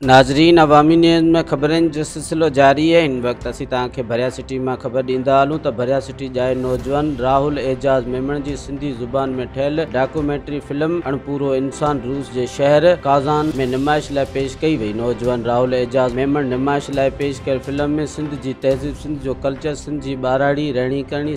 ناظرين عوامي نيوز ۾ خبرن جو سلسلو جاري آهي ان وقت اسين توهان کي ڀريا سٽي مان خبر ڏيندا هلون ته ڀريا سٽي جائي نوجوان راهول اعجاز ميمڻ جي سنڌي زبان ۾ ٺهيل ڊاڪومينٽري فلم اڻپورو انسان روس جي شهر ڪازان ۾ نمائش لاء پيش ڪئي وئي نوجوان راهول اعجاز ميمڻ نمائش لاء پيش ڪيل فلم ۾ سنڌ جي تهذيب سنڌ جو ڪلچر سنڌ جي ٻاراڙي رهڻي ڪرڻي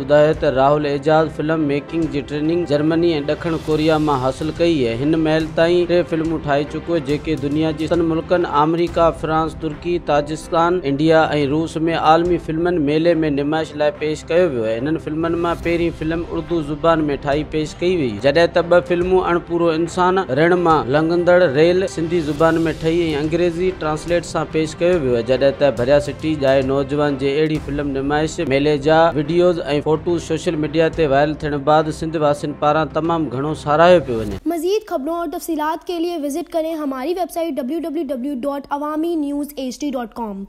ٻڌايو ته راهل اعجاز فلم ميڪنگ جي ٽريننگ جرمني ۽ ڏکڻ ڪوريا مان حاصل ڪئي اهي هن مهل تائين ٽي فلمون ٺاهي چڪو جيڪي دنيا جي ستن ملڪن آمريڪا فرانس ترڪي تاجسڪان انڊيا ۽ روس ۾ عالمي فلمن ميلي ۾ نمائش لاء پيش ڪيو ويو هنن فلمن مان پهرين فلم اڙدو زبان ۾ ٺاهي پيش ڪئي وئي جڏهن ته ٻه فلمون اڻپورو انسان رڻ مان لنگهندڙ ريل سنڌي زبان ۾ ٺهي ۽ انگريزي ٽرانسليٽ سان پيش ڪيو ويو جڏهن ته ڀريا سٽي ڄائي نوجوان جي اهڙي فلم نمائش ميلي جا وڊيوز ۽ فوٽوز سوشل ميڊيا تي وائرل ٿيڻ بعد سنڌ واسين پاران تمام گهڻو ساراهيو پيو وڃي. مزيد خبرون اور تفصيلات کے ليے وزٽ ڪرين ھماري ويب سائيٽ www.awaminews hd.com.